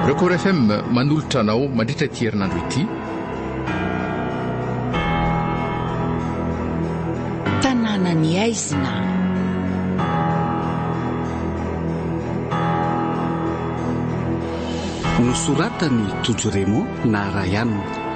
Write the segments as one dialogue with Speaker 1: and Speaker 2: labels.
Speaker 1: Record FM manolotra anao mandritra ity herinandro ity.
Speaker 2: Tanàna ny aizina.
Speaker 3: Nosoratan'i Tojo Raymond na Ryan.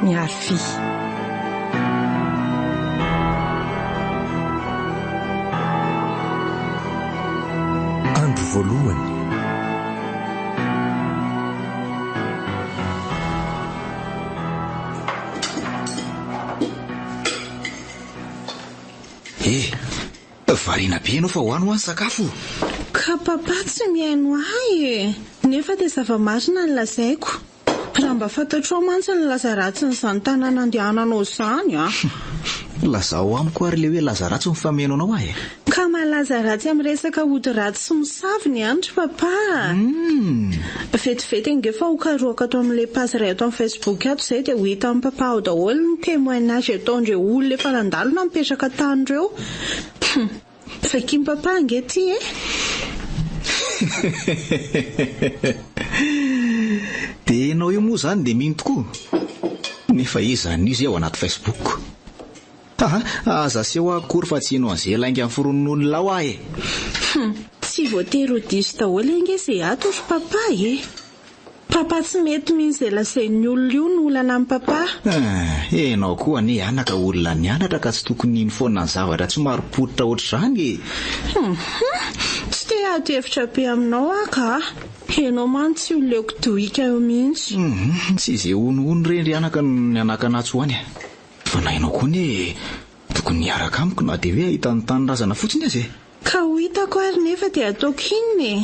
Speaker 4: Miarivy.
Speaker 5: voalohany.
Speaker 6: Eh, variana be ianao fa ho any ho any sakafo. Ka papa
Speaker 7: tsy mihaino ahy e. Nefa dia zava-marina ny lazaiko. Raha mba fantatrao mantsy ny laza ratsin'izany tanàna andehananao izany a! Lazao
Speaker 6: amiko ary ilay hoe laza ratsy mifameno anao aho e! Ka malaza
Speaker 7: ratsy amin'ny resaka ody ratsy sy mosavy ny any ry Papa a! Humm! Vetivety ange fa ho karohako ato amin'ilay page iray ato amin'ny Facebook ato izay dia ho hitan'i Papa ao daholo ny témoignage ataondreo olona efa nandalo na mipetraka tany ireo! Humm! Fakim papa ange ty e!
Speaker 6: Dia ianao io moa izany dia mino tokoa? Nefa iza anio izay ao anaty Facebook? Haha, aza aseho ahy akory fa tsy hino an'izay lainga niforonin'olona ao aho e! Hum,
Speaker 7: tsy voatery ho diso daholo ange izay ato ry papa e! Papa tsy mety mihintsy zay lazain'ny olona io no olana amin'i papa. Eeh enao
Speaker 6: koa anie anaka olona nianatra ka tsy tokony hino foana ny zavatra tsy marim-pototra ohatr'izany e! Hum hum
Speaker 7: tsy te hiady hevitra be aminao aho ka. Enao mantsy tsy oleoko dohika eo mihintsy. Hum tsy izay
Speaker 6: honohono re ndry anaka no nianakana atsy ho any e! Fa na enao koa anie tokony hiaraka amiko na dia hoe hahita ny tanindrazana fotsiny aza e! Ka ho hitako
Speaker 7: ary nefa dia ataoko inona e!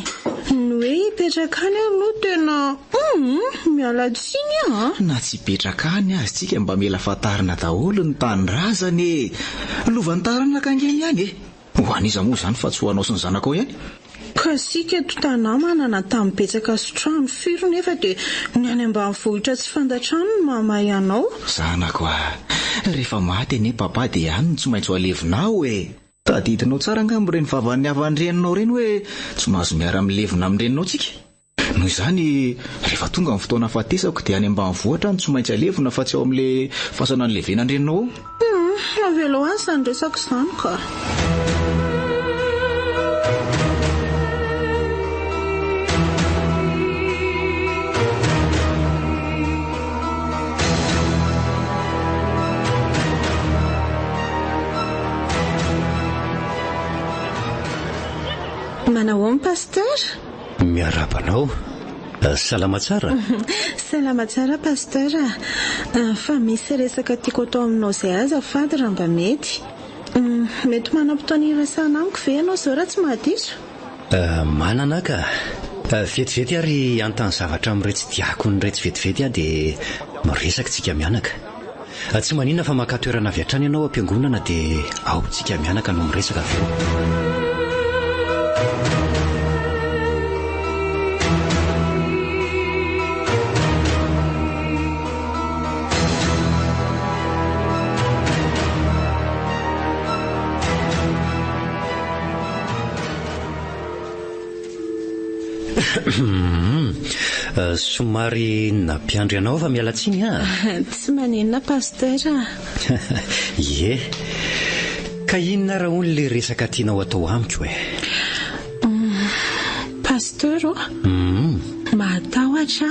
Speaker 7: Ny hoe hipetraka any aho aloha tena humm! Miala tsiny aho a! Na tsy hipetraka
Speaker 6: any aza tsika mba mila fantarina daholo ny tanindrazana e! Lovan'ny taranaka ange ny any e! Ho an'iza moa izany fa tsy ho anao sy ny zanakao ihany? Ka isika
Speaker 7: tontanà manana tany betsaka sy trano firy nefa dia ny any ambanivohitra tsy fantatra any no mahamahay anao? Zanako a!
Speaker 6: Rehefa maty anie papa dia any no tsy maintsy ho alevinao e! Tadidinao tsara angamba ireny vava nihavan'ny reninao ireny hoe tsy mahazo miara-milevina amin'ny reninao tsika. Noho izany, rehefa tonga ny fotoana hahafatesako dia any ambanivohitra aho no tsy maintsy alevina fa tsy ao amin'ilay fasana nilevenan'ny reninao ao. Hum, avela
Speaker 7: aho izany resaka izany kah. Manao aon Pasteur? Miarahaba
Speaker 5: anao. Salama tsara? Salama
Speaker 7: tsara Pasteur. Fa misy resaka tiako atao aminao zay aza fady raha mba mety. Mety manam-potoana hiresahana amiko ve ianao zao raha tsy mahadiso? Ah, manana
Speaker 5: ah ka! Vetivety ary antany zavatra amin'iretsy diakona iretsy vetivety ah dia miresaka tsika mianaka. Tsy maninona fa maka toerana avy hatrany ianao am-piangonana dia ao tsika mianaka no miresaka avy eo. Somary nampiandry anao aho fa miala tsiny an! Tsy maninona
Speaker 7: Pasteur a!
Speaker 5: Ie, ka inona ara hono ilay resaka tianao atao amiko e?
Speaker 7: Pasteur ô, mahatahotra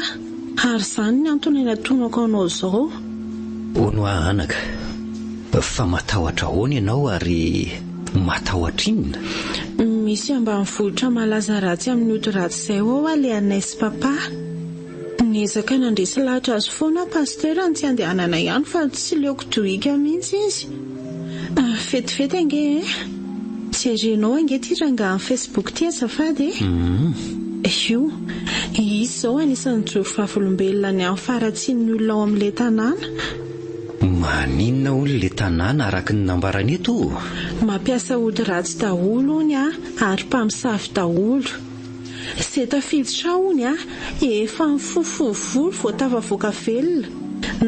Speaker 7: aho ary izany ny antony natonako anao izao. Hono
Speaker 5: aho anaka, fa matahotra ahoana ianao ary Matahotra inona? Misy
Speaker 7: ambanivohitra malaza ratsy amin'ny ody ratsy izay ao ho'a le anay sy Papa. Niezaka nandresy lahatra azy foana aho Pasteur ny tsy handehanana ihany fa tsy leoko dohika mihitsy izy. Vetivety ange eh. Jerenao ange ty rangahan'ny Facebook ty azafady eh. Io. Izy izao anisan'ny mijoro vavolombelona ny amin'ny faharatsian'ny olona ao amin'ilay tanàna.
Speaker 5: Maninona hono le tanàna araky ny nambarany eto o? Mampiasa
Speaker 7: ody ratsy daholo ony a ary mpamosavy daholo. Ze tafiditra ao ony a efa mifofovo volo vao tafavoaka velona.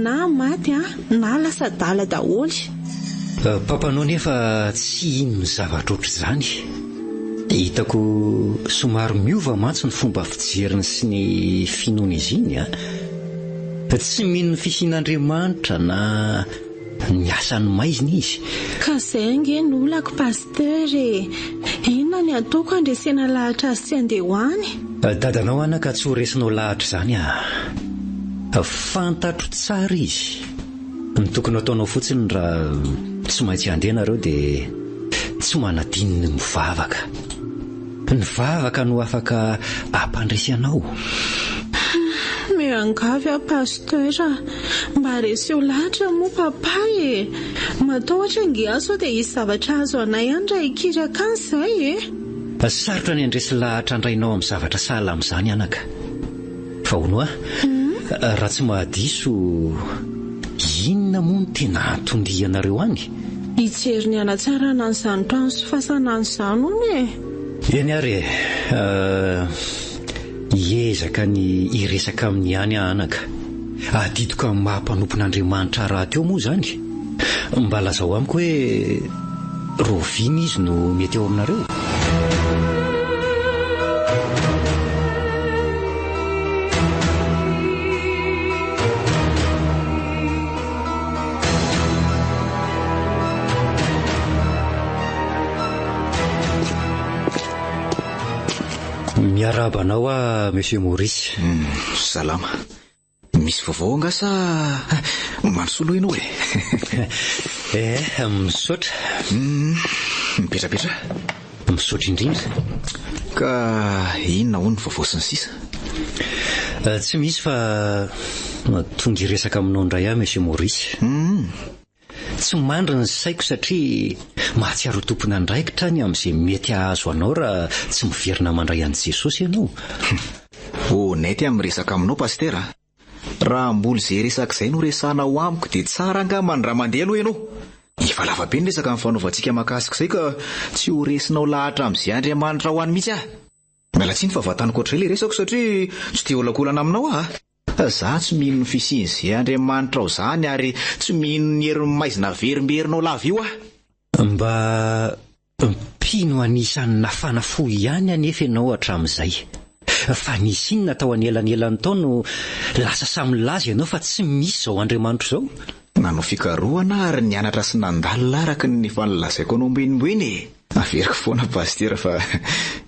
Speaker 7: Na maty a na lasa adala daholo. Papanao
Speaker 5: nefa tsy hino ny zavatra ohatr'izany. Hitako somary miova mantsy ny fomba fijeriny sy ny finoany izy iny a. Tsy mino ny fisian'Andriamanitra na ny asan'ny maizina izy. Ka zay ange
Speaker 7: no olako Pasteur e! Inona ny ataoko handresena lahatra azy tsy andeha ho any? Dadanao ana ka
Speaker 5: tsy ho resinao lahatra izany aa! Fantatro tsara izy! Ny tokony ataonao fotsiny raha tsy maintsy handeha nareo dia tsy manadino ny mivavaka. Ny vavaka no afaka ampandresy anao. Miangavy
Speaker 7: aho Pasteur a! Mba reseo lahatra moa Papa e! Matahotra ange aho sao dia hisy zavatra hahazo anay any raha hikiry akany izay e! Sarotra
Speaker 5: ny handresy lahatra andrainao amin'ny zavatra sahala amin'izany anaka. Faono a! Raha tsy mahadiso, inona moa no tena anton-dianareo any? Hijery ny
Speaker 7: hanatsarana an'izany trano sy fasana an'izany hono e! Eny ary e!
Speaker 5: Hiezaka ny hiresaka aminy ihany aho anaka. Adidiko amin'ny maha mpanompon'Andriamanitra rahateo moa izany. Mba lazao amiko hoe Rovina izy no mety eo aminareo e? Miarahaba anao aho Monsieur Maurice. Salama.
Speaker 6: Misy vaovao angaha sa manosoloha ianao e? Eh,
Speaker 5: misaotra. Hum,
Speaker 6: mipetrapetra.
Speaker 5: Misaotra indrindra. Ka
Speaker 6: inona hono ny vaovao sy ny sisa? Eh,
Speaker 5: tsy misy fa tonga hiresaka aminao indray aho, Monsieur Maurice. Hum. Tsy mandry ny saiko satria mahatsiaro ho tompon'andraikitra ny amin'izay mety hahazo anao raha tsy miverina mandray an'i Jesosy ianao.
Speaker 6: Honnête amin'ny resaka aminao Pasitera a! Raha mbola izay resaka izay no resahana ao amiko dia tsara angamba ny raha mandeha aloha ianao. Efa lava be ny resaka nifanaovantsika mahakasika izay ka tsy ho resinao lahatra amin'izay Andriamanitra ho any mihitsy aho. Miala tsiny fa vantaniko hatrizay ilay resako satria tsy te-hiolakolana aminao aho a! Fa za tsy mino ny fisian ze Andriamanitra ao zany ary tsy mino ny herin'ny maizina averimberinao lava io aho. Mba
Speaker 5: mpino anisan'ny nafana fo ihany anefa ianao hatramin'izay. Fa nisy inona tao anelanelan'ny tao no lasa samy nilaza ianao fa tsy misy izao Andriamanitra izao? Nanao fikarohana
Speaker 6: aho ary nianatra sy nandalina araka ny efa nolazaiko anao ambonimbony e! Averiko foana Pasitera fa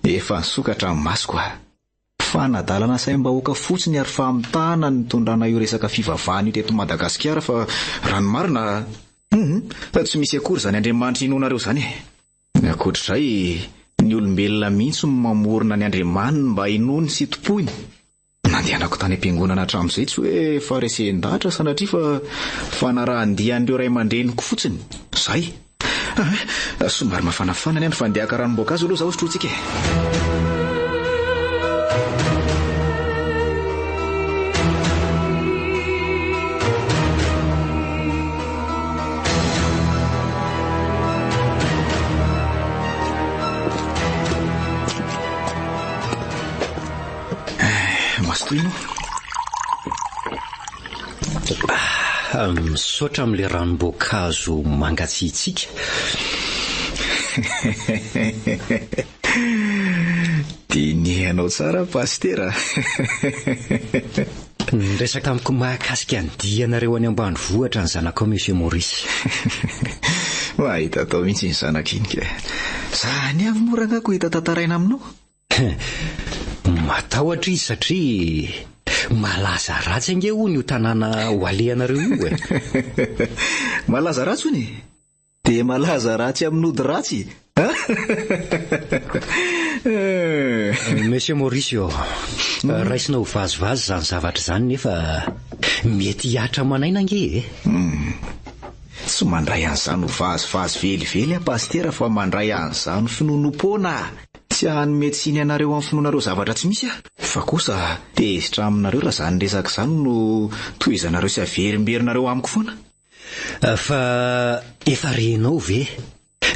Speaker 6: efa nisokatra ny masoko a! Fanadalana asaim-bahoaka fotsiny ary famitahana ny nitondrana io resaka fivavahana io teto Madagasikara fa raha ny marina hum tsy misy akory izany Andriamanitra inoanareo izany e! Ankoatr'izay, ny olombelona mihitsy no mamorona ny Andriamaniny mba hinoany sy tompoiny. Nandehanako tany am-piangonana hatramin'izay tsy hoe faharesen-dahatra sanatria fa fanarahan-dia an'ireo ray aman-dreniko fotsiny. Izay! Ah, somary mafanafana ny andro fa andeha haka ranom-boankazo aloha zaho sotrointsika
Speaker 5: e. Misaotra amin'ilay ranom-boankazo mangatsiatsiaka.
Speaker 6: Dinihanao tsara Pasitera
Speaker 5: a! Niresaka amiko mahakasika ny dianareo any ambanivohitra ny zanakao Monsieur Maurice.
Speaker 6: Mahita atao mihitsy iny zanak'iny kay. Za anie avy moa rangahy koa hita tantaraina aminao.
Speaker 5: Matahotra izy satria malaza ratsy ange hono io tanàna ho alehanareo io e.
Speaker 6: Malaza ratsy hono e? Dia malaza ratsy amin'ny ody ratsy
Speaker 5: e! Monsieur Mauricio, hmm. raisina ho vazivazy izany zavatra izany nefa mety hihatra aman'aina ange e. Hmm.
Speaker 6: Tsy mandray an'izany ho vazivazy velively aho, pasitera, fa mandray an'izany finoanoam-poana aho. Tsy hanome tsiny anareo amin'ny finoanareo zavatra tsy misy aho. Fa kosa, tezitra aminareo raha izany resaka izany no tohizanareo sy averimberinareo amiko foana. Fa
Speaker 5: efa renao ve,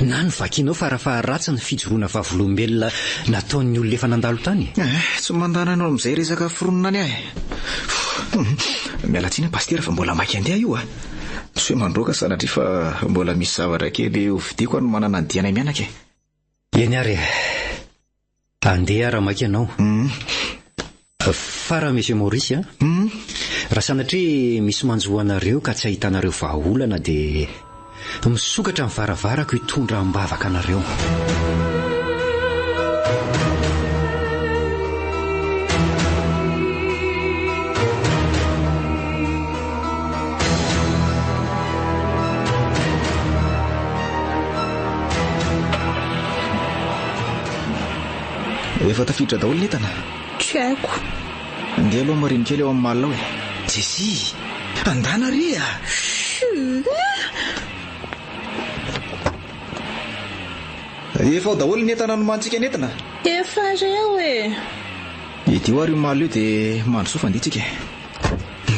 Speaker 5: na novakinao farafaharatsiny ny fijoroana vavolombelona nataon'ny olona efa nandalo tany? Eh, tsy mandàna anao
Speaker 6: amin'izay resaka foronina any aho e. Miala tsiny aho Pasitera fa mbola maika handeha io a. Tsy hoe mandroaka sanatria fa mbola misy zavatra kely hovidiako hanomanana ny dianay mianaka e. Eny ary
Speaker 5: e. Andeha ara maika ianao. Fara Monsieur Maurice a. Raha sanatria misy manjo anareo ka tsy ahitanareo vahaolana dia misokatra ny varavarako hitondra am-bavaka anareo.
Speaker 6: Efa tafiditra daholo ny entana. Tsy haiko.
Speaker 7: Ndeha aloha
Speaker 6: marine kely ao amin'ny malina ao e. Jesy! Andana re a! Efa ao daholo ny entana nomanintsika nentina. Efa reo
Speaker 7: e!
Speaker 6: Idio ary io malina io dia mandrosoa fa handeha tsika e.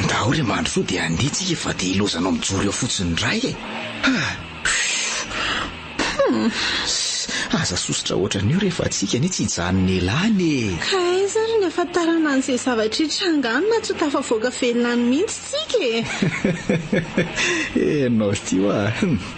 Speaker 6: Ndao re mandrosoa dia handeha tsika fa dia ilaozanao mijoro eo fotsiny indray e! Hum! Aza sosotra ohatran'io re fa tsika anie tsy hijanon'elany e! Ka aiza ary ny
Speaker 7: hafantarana an'izay zavatra hitranga any na tsy ho tafavoaka velona any mihitsy tsika e!
Speaker 6: Enao ity hoa!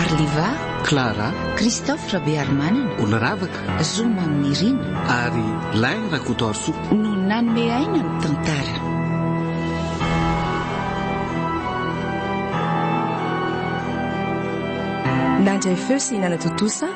Speaker 2: Arliva, Clara,
Speaker 3: Christophe
Speaker 2: Rabearimanana, Oloravaka,
Speaker 3: Zoma amin'i Nirina,
Speaker 2: ary
Speaker 3: Lain Rakotoarisoa. No nanome
Speaker 2: aina ny tantara.
Speaker 4: Nandray feo sy nanatontosa